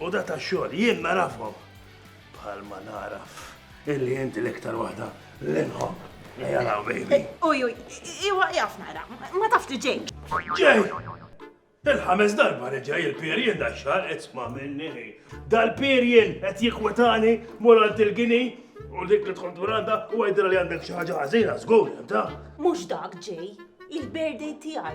U da ta' xogħol jien narafhom bħal ma naraf illi inti l-iktar waħda l-inħob. Jalaw, baby. Uj, uj, iwa jaf nara, ma taf li ġej. Ġej! Il-ħames darba li ġej il-pirjen da xar isma minni. Dal-pirjen qed jikwetani morant il-gini u dik li tkun duranda u għajdra li għandek xi ħaġa ħażina żgur, ta? Mhux dak ġej, il-birthday tiegħi.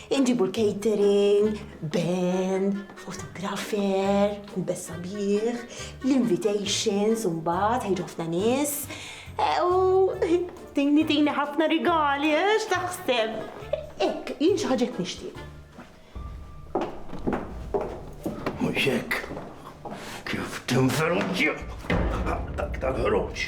Inġibu l-catering, band, photographer, ħubes sabiħ, l-invitations u mbagħad ħejġu ħafna nies. U tini tini ħafna rigali, eh, x'taħseb? Ek, jien xi ħaġa nixtieq. Mhux hekk. Kif tinferunġi dak tal-ħruġ.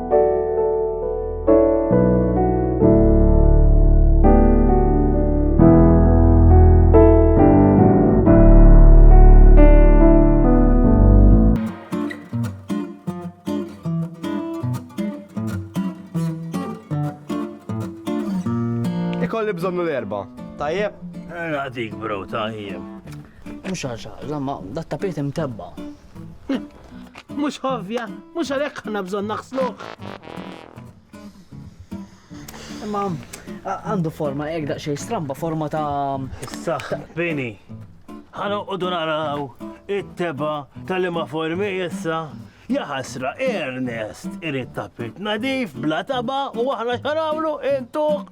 Ikolli bżonnu l-erba. Tajjeb? Għadik, bro, tajjeb. Mux għaxa, zamma, dat tapit imtebba. Mhux ovvja, mhux għalhekk ħana bżonn naħsluh. Imma għandu forma hekk daqsxejn stramba, forma ta' saħ bini. Ħana qogħdu naraw it-teba tal-imma formi issa. Jaħasra Ernest irid tapit nadif bla taba u aħna xarawlu intuq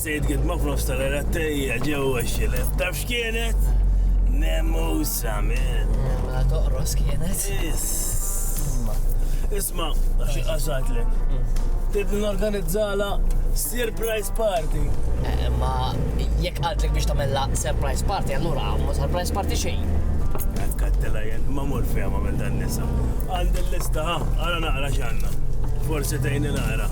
Sejt gidma f'nofs tal-għerad tejja ġewwa x-xilef. Taf x'kienet? Nemusa min. Mela toqros kienet. Isma. Isma, xi qasatlek. Trid norganizzala surprise party. Eh, ma jekk qaltlek biex tagħmilha surprise party, allura ma surprise party xejn. Kattela jen, ma mur fiha ma minn dan nisa. Għandi l-lista, ha, għara naqra x'għandna. Forsi tgħinni naqra.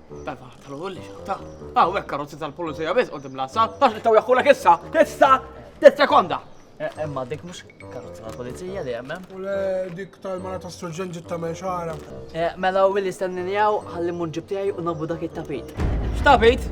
Dal-faħar tal-ewwel li xaħta. Aw hekk karozzi tal-pulizija biss qudiem l-assa, tax li taw jaħħulek issa, issa, tis-sekonda. Emma eh, eh, dik mhux karozzi tal-pulizija li hemm. U le dik tal-mara ta' surġen ġitta me xara. Eh, mela u li stenninjaw ħalli mun ġibtijaj u nabu dak it-tapit. X'tapit?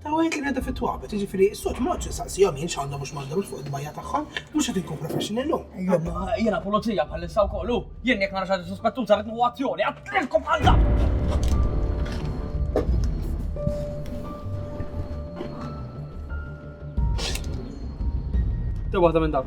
Ta' wieħed li bneda fit-twabet, jiġifieri s-sod ma noqgħodx insaqsihom jien x'għandhom u x'm'għandhomx fuq id-dbajja tagħhom, mhux qed inkun profession illum. Imma jiena pulizija bħalissa wkoll u jien jekk nara xi ħaġa suspettuża rrid nieħu azzjoni, qatlilkom bħal dawn! Tew waħda minn dawn.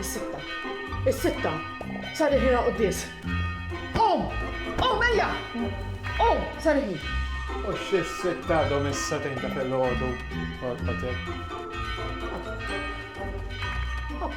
Is-sitta. Is-sitta. Sar il-ħin għal quddies. Qum! Qum ejja! Qum! Sar il-ħin. U xi sitt għadhom issa tejn ta' fil-ħodu. Għalqatek. Ok.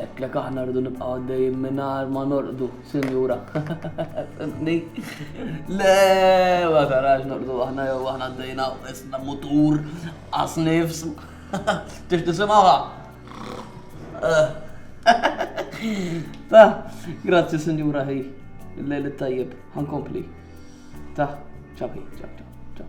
Għetlek aħna rridu nibqa' għaddejjin mingħajr ma norqdu, sinjura. Fimni? Le, ma tarax norqdu aħna jew aħna għaddejna isna mutur għas nifs. Tix tisimgħuha? Ta, grazzi sinjura ħi. Il-lejl tajjeb, ħankompli. Ta, ċabi, ċab, ċab.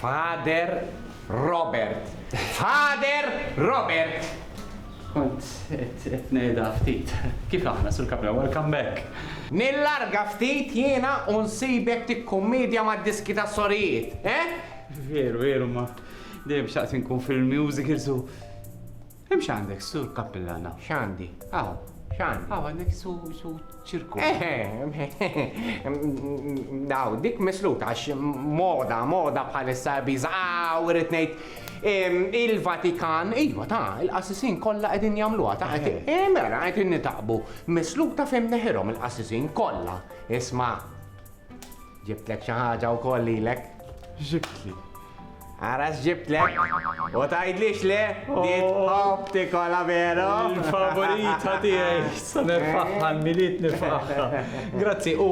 Father Robert! Father Robert! Kont qed ngħidha ftit. Kif aħna, Sur Cabrera? Welcome back! Nillarga ftit jiena u nsibek tikkummedja mad-diski tas-sorijiet, eh? Veru, veru, ma dejjem xtaqt inkun fil-musicals u. Hemm x'għandek, Sur Kappillana? X'għandi? Hawn, x'għandi? Hawn għandek su su ċirku. Daw, dik misluta għax moda, moda bħalissa biża. Aw, irrid ngħid il-Vatikan, iva ta' il-qassisin kollha qegħdin jagħmluha ta' qed eh, mela qed nitaqbu. Misluta fejn neħirhom il-qassisin kollha. Isma' Ġibtlek xi ħaġa wkoll lilek. X'ġibtli? Ara x'ġibtlek. U tgħidlix le, di tħobb tikola veru. Il-favorita tiegħi, se nirfaħħa għall-Milied nifraħha. Grazzi, u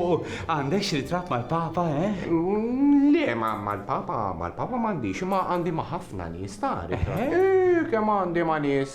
għandek xi ritratt mal-Papa, eh? Le, mal-Papa, mal-Papa m'għandix, imma għandi ma' ħafna nies ta' ritratt. Kemm għandi ma' nies.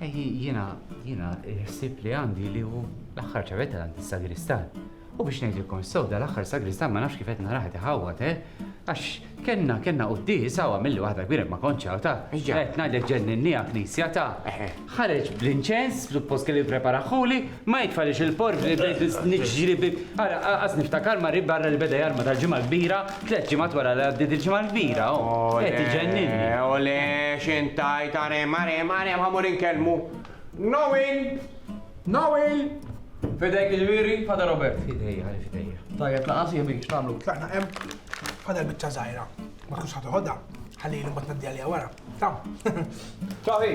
Ejji, jiena, jiena, il-ħsieb li għandi li hu l-aħħar ċavetta għand is-sagristan. U biex ngħidilkom sew dal-aħħar sagristan ma nafx kif qed narah qed iħawwad, eh? Għax kellna kellna quddies hawn għamilli waħda kbira ma kontx hawn ta' qed ngħidlek ġenninniha knisja ta' ħareġ bl-inċens, suppost kellu jippreparahuli, Ma jitfalix il-porf li bdejt niġri bi. Ara, qas niftakar marri barra li beda jarma tal-Ġimgħa l-Kbira, tliet ġimgħat wara li għaddiet il-Ġimgħa l-Kbira, oh, qed iġenninni. Ole, x'int tgħid, arem, arem, arem, ħa mur inkellmu. Noel! Noel! F'idejk il-wiri, Father Robert. F'idejja, li f'idejja. Tajjeb, laqas jemi, x'tagħmlu? Tlaqna hemm, Father biċċa żgħira. Ma tkunx ħadd iħodha, ħalli li mbagħad ngħaddiha liha wara. Taw. Taw hi.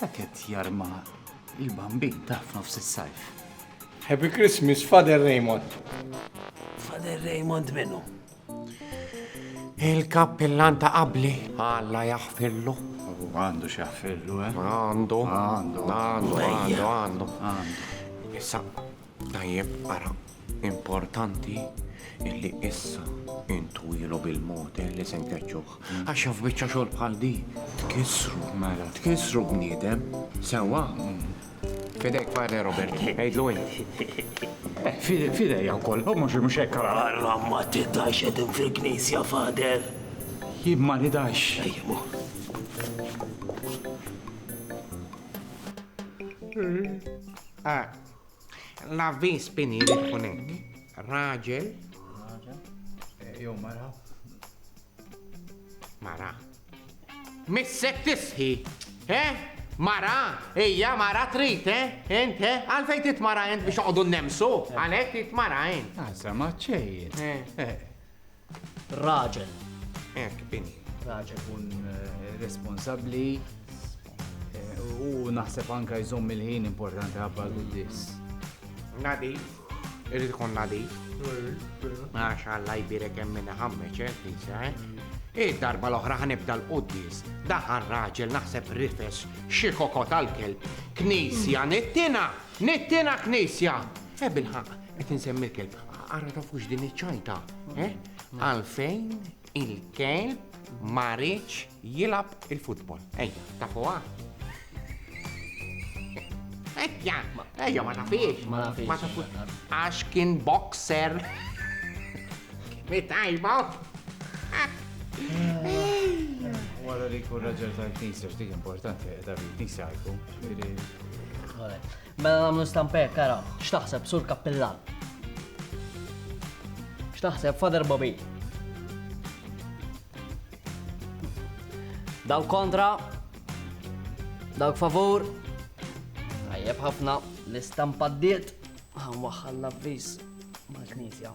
Dak qed jarma il-bambin tah f'nofs is-sajf. Happy Christmas Father Raymond. Father Raymond minnu? Il-kappillan ta' qabli. Alla jaħfirlu. Għandu xaħfirlu, eh? Għandu. Għandu. Għandu, għandu, għandu. Issa, Tajjeb ara, importanti illi issa intwilu bil-motel li se nkeċċuh. Għax jaf biċċa xogħol bħal di. Tkissru, mela, tkissru bniedem. Sewwa. Fidejk Padre Robert, għidlu int. Fidejja wkoll, u mhux mhux hekk ara. Alla ma tiddax qegħdin fil-knisja, Fader. Jien ma nidax. Ejjemu. Ah, L-avviż bini jrid ikun hekk. Raġel. Raġel. Eh, jew mara. Mara. Missek tisħi. Eh? Mara, ejja mara trit, eh? Ent, eh? Għalfejn tit mara ent biex oqdu nemsu? Għalek tit mara ent. Għasa ah, maċċejt. Eh. Eh. Raġel. Ek, bini. Raġel kun eh, responsabli eh, u naħseb anka jżomm il-ħin importanti għabba l-guddis. Nadif, irrid ikun nadif. Għax għalla jbirek hemm minn ħammeċ, eh, tinsa, eh? Id-darba l-oħra ħanibda l-quddis, daħan raġel naħseb rifes xi kokot tal-kelb, knisja nittina. Nittiena knisja! Eh bilħaqq, qed insemmi l-kelb, ara tafux din iċ-ċajta, eh? Għalfejn il-kelb ma riedx jilgħab il-futbol. Ejja, tafuha? Ejja, ejja ma tafiex. Ma nafiex. Ma tafux. Għax kien boxer. Mitajba. Wara li kun raġel tal-knisja, x'dik importanti, ta' knisja għalku. Mela nagħmlu stamper, kara, x'taħseb sur kappillan? X'taħseb Father Bobby? Dawk kontra, dawk favur, tajjeb ħafna l-istampa d-diet, għan waħħal l-avvis mal-knisja.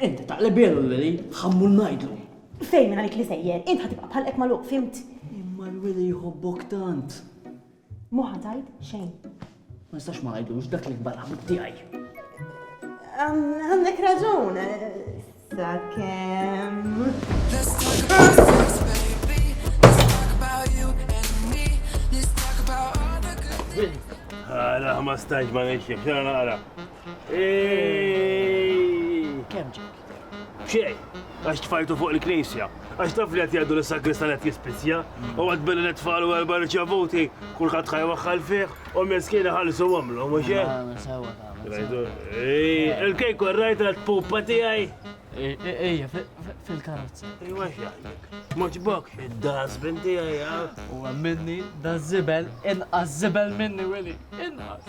Int taqlibielu lili, ħammur ngħidlu. Fejn min għalik li sejjer, int ħa tibqa' bħalqek magħluq, fhimt? Imma l-weli jħobbok tant. Mhu ħa tgħid xejn. Ma nistax ma ngħidlux dak li kbar ħabib tiegħi. Għandek raġun, sakemm. Let's talk about sex, baby. Let's talk about you and me. Let's talk about all the good things. Għala, ma stajġ ma nixjek, xena naqra. Kemm ġek? Xej, għax tfajtu fuq il-knisja, għax taf li għati għaddu l-sagrista għet jispizja, u għad billi netfalu għalba riċavuti, kullħat ħaj waħħal fiħ, u mjeskina ħalsu għamlu, mux Il-kejk u rajt għad pupa tijaj? Ejja, fil-karozza. Ejwa xaħlek. Moċbok, id-das binti għajja. U għamminni, da zibel, inqas zibel minni, Willy, inqas.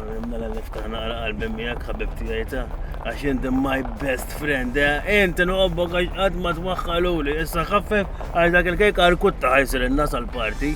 Mela niftaħ naqra qalbi miegħek ħabib tiegħi ta' għax inti my best friend, eh? inti noqobbok għax qatt ma twaħħaluli, issa ħaffef għax dak il-kejk arkutta ħajsir in-nas għal-parti.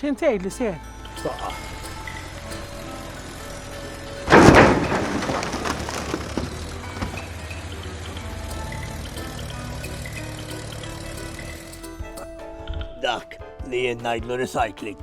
Xejn tgħid li seħ? Taqqa. Dak li jien ngħidlu recycling.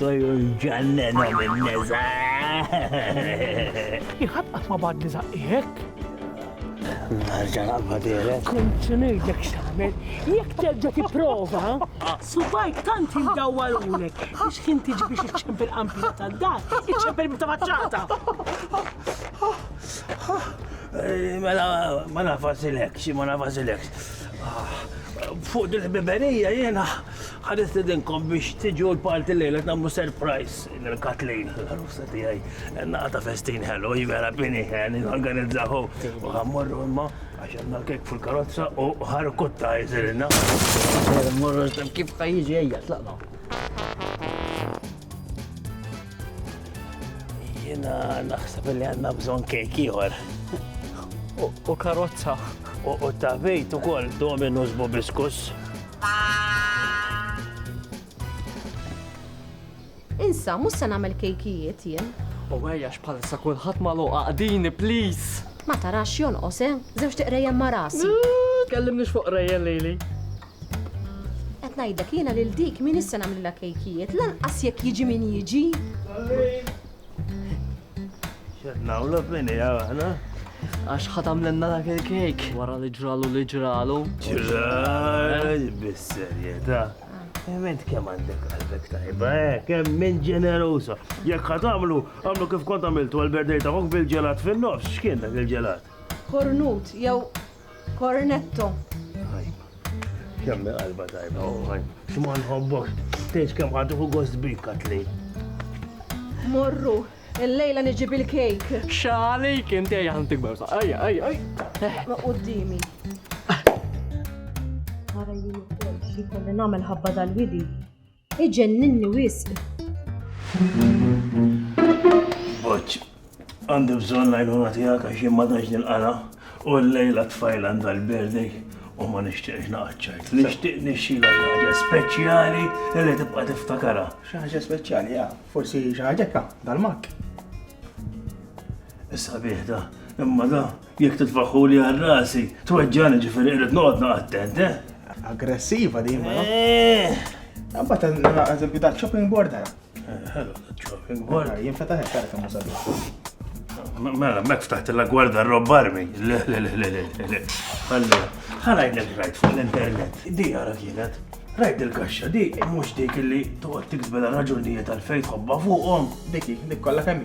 Tojru jġannenom in-neża'. Jekk ħadd qatt ma bagħatni żaqqi hekk. Nerġa' naqbadilek. Kont se ngħidlek x'tagħmel. Jekk terġa' tipprova, subajk tant indawwalulek biex ħin tiġi biex iċċempel qampina tad-dar, iċċempel bita faċċata. Mela ma nafasilek, xi ma nafasilek. Fuq dil-ħbiberija jiena Ħa nistedinkom biex tiġu l-party llejla qed nagħmlu surprise lil Kathleen, l-għarusa tiegħi. Naqa' ta' festin ħelu, hi vera bini, norganizzaw hu. U ħa mmorru imma għax għandna kejk fil-karozza u ħarkutta jsirilna. Sejra mmorru kif ħa jiġi ejja tlaqna. Jiena naħseb li għandna bżonn kejk ieħor. U karozza. U ta' bejt ukoll dominus bobiskus. Insa, mhux se nagħmel kejkijiet jien. U għajja x'palissa kulħadd magħluq għaqdini, please! Ma tarax jonqos, eh? Żewġ tiqrejjem ma' rasi. Kellimni fuq rejjen lili. Qed ngħidlek jiena lil dik min issa nagħmlilha kejkijiet, lanqas jekk jiġi min jiġi. Xed nawlu fini għana. Għax ħatam l-enna dak il-kejk. Wara li ġralu li ġralu. Ġralu bis-serjeta. Ement kem għandek għalbek tajba, eh, kem minn ġenerusa. Jek ħatamlu, għamlu kif kont għamiltu għal-berdej ta' bil-ġelat fin-nofs, xkien dak il-ġelat? Kornut, jew Cornetto. Kemm qalba tajba, uħaj. Xma nħobbok, tgħidx kemm ħaduħu gost bik katli. Morru, il-lejla niġib il-kejk. Xali, kien tej għan tikber sa. Ajja, ajja, ajja. Ma qoddimi. Għara jien ukoll xi kolli nagħmel ħabba dal-widi. Iġenninni wisq. Boċ, għandi bżonn l-għajnuna tiegħek għax jien ma tantx nilqana u l-lejla tfajla għandha l-birthday u ma nixtieqx naqaċċajt. Nixtieq nixxila xi ħaġa speċjali li tibqa' tiftakarha. Xi ħaġa speċjali, ja, forsi xi ħaġa dal-mak. Issa bieħda, imma da Jekk titfaħħuli għal rasi, tweġġani ġifieri irrid noqgħod naqa' attent, eh? Aggressiva din, ma. Għabba ta' eżempju ta' chopping board għara. Hello, chopping board. Jien fetaħ għara kemm musabi. Mela, mek ftaħt la gwarda rob armi. Le, le, le, le, le, le. Allora, ħalajt l rajt fuq l-internet. Di għara kienet. Rajt il-kaxxa di, mux dik li toqgħod tiksbela raġunijiet għal fejn tħobba fuqhom. Diki, dik kollha kemm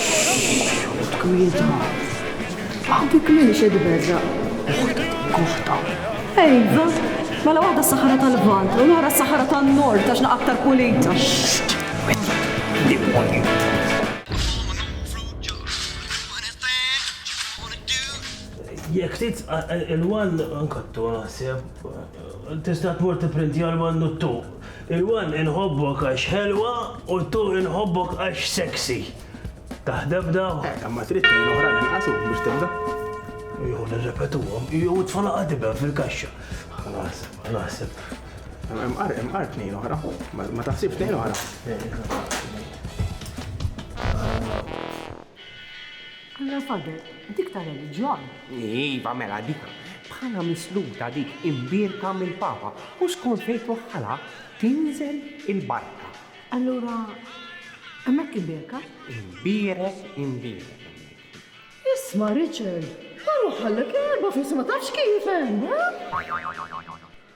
Xxxx! Tgwidha. Aħbik minn xi tberraq. Uħt Goħta. Iva. Mela waħda s-Saħara tal-Lvant u l-oħra s-Saħara tan-Nord għax naqgħa aktar pulita. Xxxx! Widni. Demonju. Jekk trid il-one nkattu naħseb. Tista' tmur tipprintja l-one u t-two. Il-one inħobbok għax ħelwa u t-two inħobbok għax sexy. Taħdem daw? Eh, imma trid tnejn oħra inqas u biex tibda. Jew nirrepetuhom, jew it-tfal għadibem fil-kaxxa. Ħalas, naħseb. Imqar, imqar tnejn oħra. Ma taħsibx tnejn oħra. Eh, Allura fadal dik ta' reliġjon. Iva, mela dik bħala misluta dik imbierka mill-Papa u skont fejn twaħħalha tinżel il-barka. Allura hemmhekk imbierka? Imbierek, imbierek hemmhekk. Isma' Richard, ħa nwaħħallek erba' f'isem ma tafx kif hemm, ha?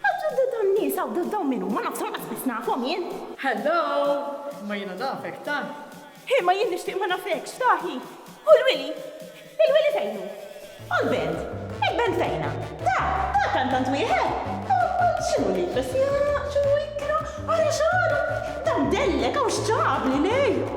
Għax dawn in-nies hawn dawn min huma? Nafshom qatt biss nafhom jien. Hello! Imma jiena nafek tant! Imma jien nixtieq ma nafekx, Tahi! U l-wili? Il-wili fejn hu? U l-band? Il-band fejn ha? Ta, ta kantant wieħed? Omma x'inhu li jfess jaqraq, x'inhu jikra, ara x'għaraq! Dan dellek hawn x'ġabli lejk!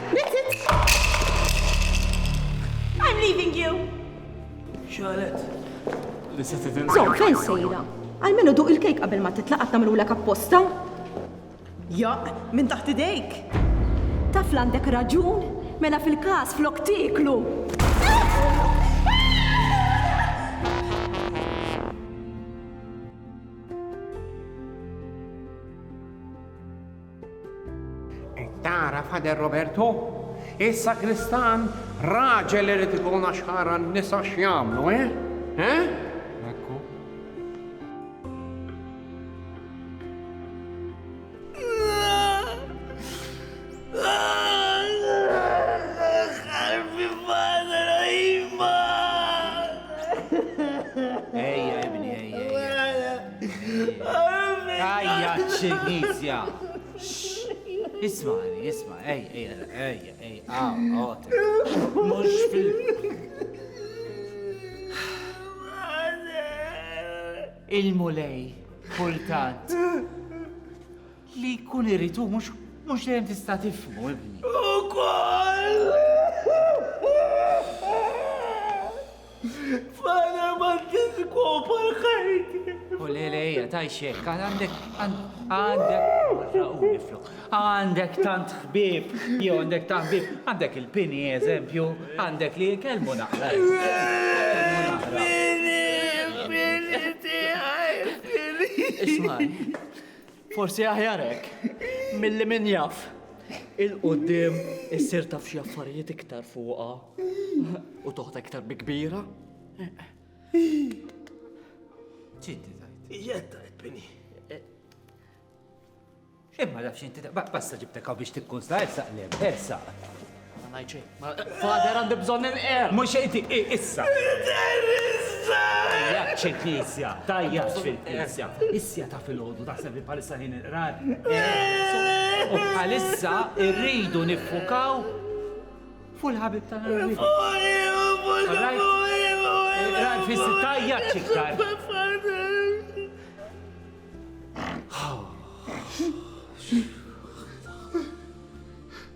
That's it! I'm leaving you! Xalet, li se tidin. Zom, fejn sejra? Għalmenu duq il-kejk qabel ma titla' qatt nagħmlulek apposta. Jaq, minn taħt idejk. Taf l-għandek raġun, mela fil-każ flok tieklu. Qed tara Father Roberto? Is-sakristan raġel irid ikun għax ħara n-nisa x'jagħmlu, eh? Eh? Ajja, ċinizja! Ismani, isma, ej, ej, ej, ej, għaw, għot. Mux fil. Il-mulej, kultant. Li jkun irid hu mhux mhux dejjem tista' tifhmu, ibni. Ukoll! Fana ma tiskopa l-ħajti. U le le hija tajxek, għandek għandek għandek tant ħbib, jew għandek tant ħbib, għandek il-pini eżempju, għandek li kelmu naqra. Pini, pini tiegħi, pini. Isma' Forsi aħjar hekk, milli min jaf. Il-qudiem issir taf xi affarijiet iktar fuqha u toħda iktar bi kbira. Ċinti tajt. Jetta tajt bini. Imma nafx inti basta ġibtek biex tikkun sa' ersaq l-em, ersaq. Ma ngħid xejn. Father għandi bżonn il-qer. Mhux inti issa. Terrorista! Tajjaċ il-knisja, tajjaċ fil-knisja. Issja ta' fil-ħodu taħseb li bħalissa ħin il-qrar. U bħalissa irridu niffukaw fuq il-ħabib tal-ħabib. Il-qrar fis tajjaċ iktar. Oh.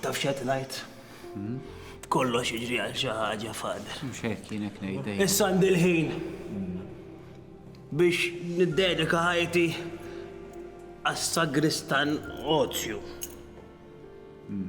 Taf xed ngħid? Hmm? Kollox jiġri għal xi ħaġa fader. Mhux hekk jienek ngħidej. Issa għandi l-ħin hmm. biex niddedika ħajti għas-sagristan ozju. Hmm.